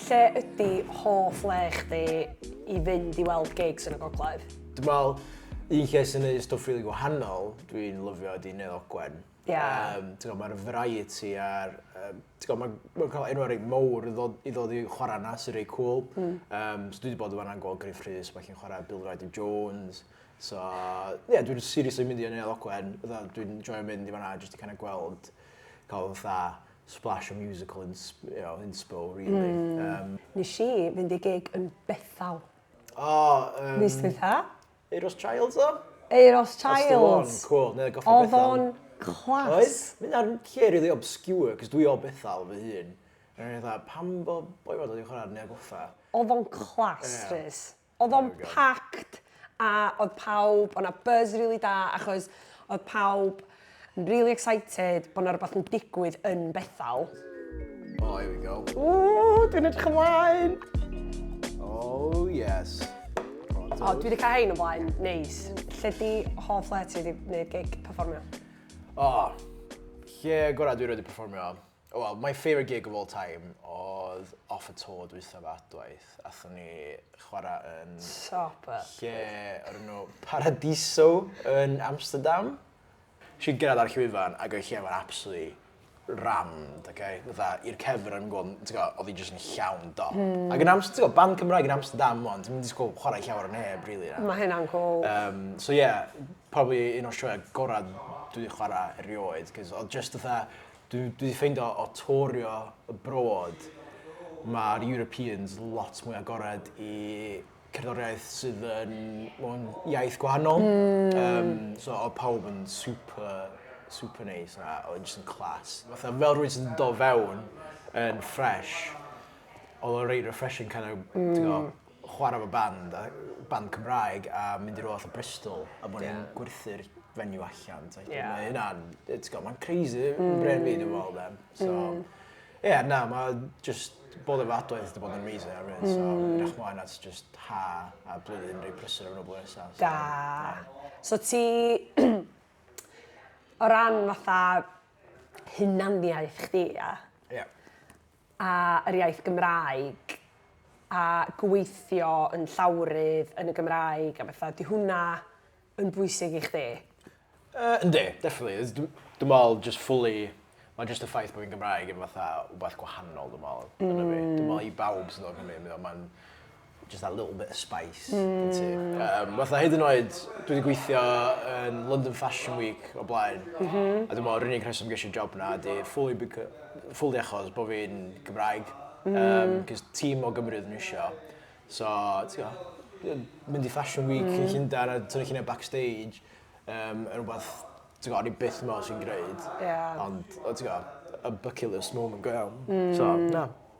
Lle ydi hoff le chdi i fynd i weld gigs yn y gogledd? Dwi'n meddwl, un lle sy'n gwneud stwff rili gwahanol, dwi'n lyfio ydi Neuadd Ogwen. Ie. Um, ti'n gwybod, mae'r variety a'r... Um, ti'n gwybod, mae'n ma cael enwau rei mowr i ddod, i ddod i chwarae yna sy'n rei cool. Mm. Um, so dwi wedi bod yma'n gweld Griff Rhys, mae chi'n chwarae Bill Ryder Jones. So, ie, yeah, dwi'n seriously mynd i Neuadd Ogwen. Dwi'n joio mynd i fanna jyst i kind of gweld cael fatha splash o musical ins, you know, inspo, really. Mm. Um, Nes i fynd i gig yn Bethel. O, um, Mis dwytha. Eiros Childs o? Eiros Childs. That's the one, cool. Neu goffa Bethel. Oedd o'n clas. Oes, mynd ar lle really obscure, cos dwi o Bethel fy hun. Rwy'n dda, pam bo boi fod wedi chwarae neu goffa? Oedd o'n clas, yeah. Rhys. Oedd o'n packed a oedd pawb, oedd 'na buzz rili da achos oedd pawb yn rili excited bod 'na rywbeth yn digwydd yn Bethel. Oh, here we go. Ww, dwi'n edrych ymlaen! Oh, yes. O, dwi wedi cael hein o blaen, neis. Lle di hoff le ti wedi gwneud gig perfformio? O, lle gorau dwi wedi perfformio? O wel, my favourite gig of all time oedd off y to dwytha fe adwaith. Athon ni chwarae yn... Sop up. Lle o'r enw Paradiso yn Amsterdam. Si'n gyrraedd ar llwyfan ac oedd lle fo'n absolutely rammed, oce? Okay? Fytha, i'r cefr yn gwybod, ti'n gwybod, oedd hi jyst yn llawn dop. Mm. Ac yn Amsterdam, ti'n gwybod, band Cymraeg yn Amsterdam o'n, ti'n mynd i sgwb chwarae llawer o neb, really. Na. Mae hynna'n cool. Um, so yeah, probably un o'r sioe gorau dwi wedi chwarae erioed, cos oedd just fatha, Dwi, dwi wedi ffeindio o torio abroad, mae'r Europeans lot mwy agored i cerddoriaeth sydd yn mewn iaith gwahanol. Mm. Um, so oedd pawb yn super, super neis a oedd yn just yn clas. Fatha fel rwy'n sy'n do fewn yn fresh, oedd o'n rei refreshing kind of, mm. chwarae efo band, a band Cymraeg, a mynd i'r oll o Bristol, a bod ni'n gwerthu'r venue allan. Mae hynna'n, ti'n gwybod, mae'n crazy, mm. bren fi, dwi'n meddwl, then. So, mm. yeah, na, mae just bod efo adwaith wedi bod yn amazing ar hyn, so mm. edrych mlaen at just ha a blwyddyn rei prysur o'n o'r nesaf. So, da. So ti, o ran fatha hunaniaeth chdi, ia? Ia. a yr iaith Gymraeg a gweithio yn llawrydd yn y Gymraeg a betha, ydy hwnna yn bwysig i chdi? Yy yndi, definitely. Dw- dwi me'wl jyst fully ma' jyst y ffaith bo' fi'n Gymraeg yn fatha wbath gwahanol dwi me'wl... Hmm. ...yn y byd. Dwi me'wl i bawb sy'n dod o Cymru ma'n just that little bit of spice. Mm. Um, fatha hyd yn oed, dwi wedi gweithio yn London Fashion Week o blaen. Mm -hmm. A dwi'n meddwl, yr unig rheswm gysi job na, di fully, fully achos bod fi'n Gymraeg. Mm. Um, Cys tîm o Gymru ydyn nhw eisiau. So, ti'n gwybod, mynd i Fashion Week mm. yn Llundain a tynnu lluniau backstage, um, yn rhywbeth, ti'n gwybod, ni byth mor sy'n gwneud. Yeah. Ond, ti'n gwybod, a bucket list moment go iawn. Mm. So, na.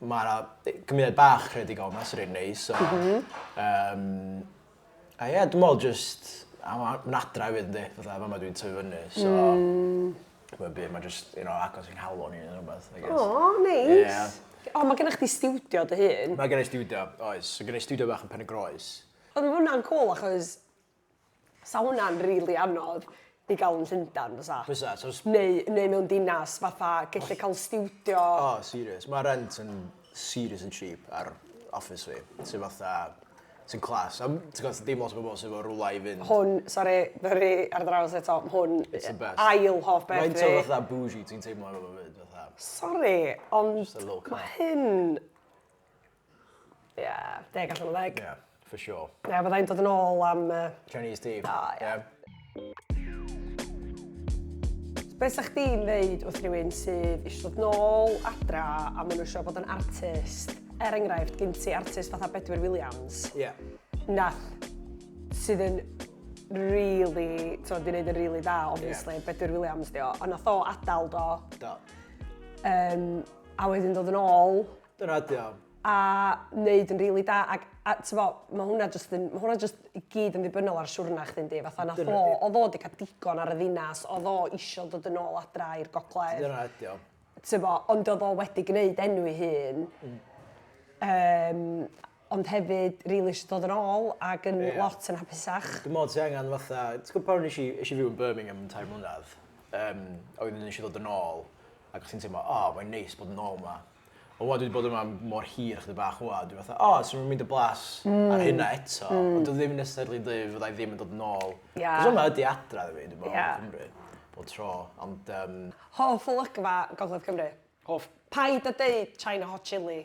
Mae 'na gymuned bach creadigol yma sy'n reit neis. So, mm -hmm. um, a ie, yeah, dwi'n meddwl just... Mae'n adra hefyd, ynddi. Fatha, fama dwi'n tyfu fyny. So, mm. mae'n byd, mae'n just, you know, agos i'n halon ni yn rhywbeth, I guess. O, oh, neis. Nice. Yeah. O, oh, mae gennych chi studio dy hun? Mae gennych studio, oes. Mae gennych studio bach yn Pen y Groes. Ond mae hwnna'n cool achos Sa hwnna'n rili anodd i ga'l yn Llundan bysa? Bysa so s- Neu neu mewn dinas fatha gellu ca'l stiwdio. O serious ma' rent yn serious yn cheap ar office fi sy fatha sy'n class a m- ti'n gwbo' dim lot o bobol sy efo rwla i fynd. Hwn sori ma' ry ar draws eto m- hwn It's the best. ail hoff beth fi. Faint o fatha bougie ti'n teimlo efo fo 'fyd fatha? Sori ond... Jyst y low carb. ...ma' hyn Ie, deg allan o ddeg. Ie, for sure. Ie, fyddai'n dod yn ôl am... Chinese tea. O, ie. Be sa chdi'n ddeud wrth rywun sydd eisiau dod nôl adra a maen nhw eisiau bod yn artist? Er enghraifft, gyn ti artist fatha Bedwyr Williams. Ie. Yeah. Nath, sydd yn really, ti'n gwneud yn really da, obviously, yeah. Bedwyr Williams, dio. Ond nath o adael do. Do. Um, a wedyn dod yn ôl, Dyna ydy o. a neud yn rili da ag a t'bo ma' hwnna jyst yn ma' hwnna jyst i gyd yn ddibynnol ar siwrna chdi yndi fatha nath o odd o 'di ca'l digon ar y ddinas odd o isio dod yn ôl adra i'r gogledd Dyna ydy o. t'bo ond odd o wedi gneud enw 'i hun yym ond hefyd rili isio dod yn ôl ac yn lot yn hapusach. Dwi'n meddwl ti angen fatha, ti'n gwybod pan nes i, nes i fyw yn Birmingham yn tair mlynedd, um, a wedyn nes i ddod yn ôl, ac o'ch ti'n teimlo, o, oh, mae'n neis bod yn ôl yma. Ond wad wedi bod yma mor hir chdi bach wad, dwi'n fatha, o, oh, sy'n mynd y blas mm. ar hynna eto, mm. ond dwi ddim yn necessarily dweud fyddai ddim yn dod yn ôl. Yeah. Cos yma ydi adra, dwi'n meddwl, dwi'n meddwl, yeah. Cymru, bod tro, ond... Um... Hoff olygfa Gogledd Cymru? Hoff... Paid a deud China Hot Chili.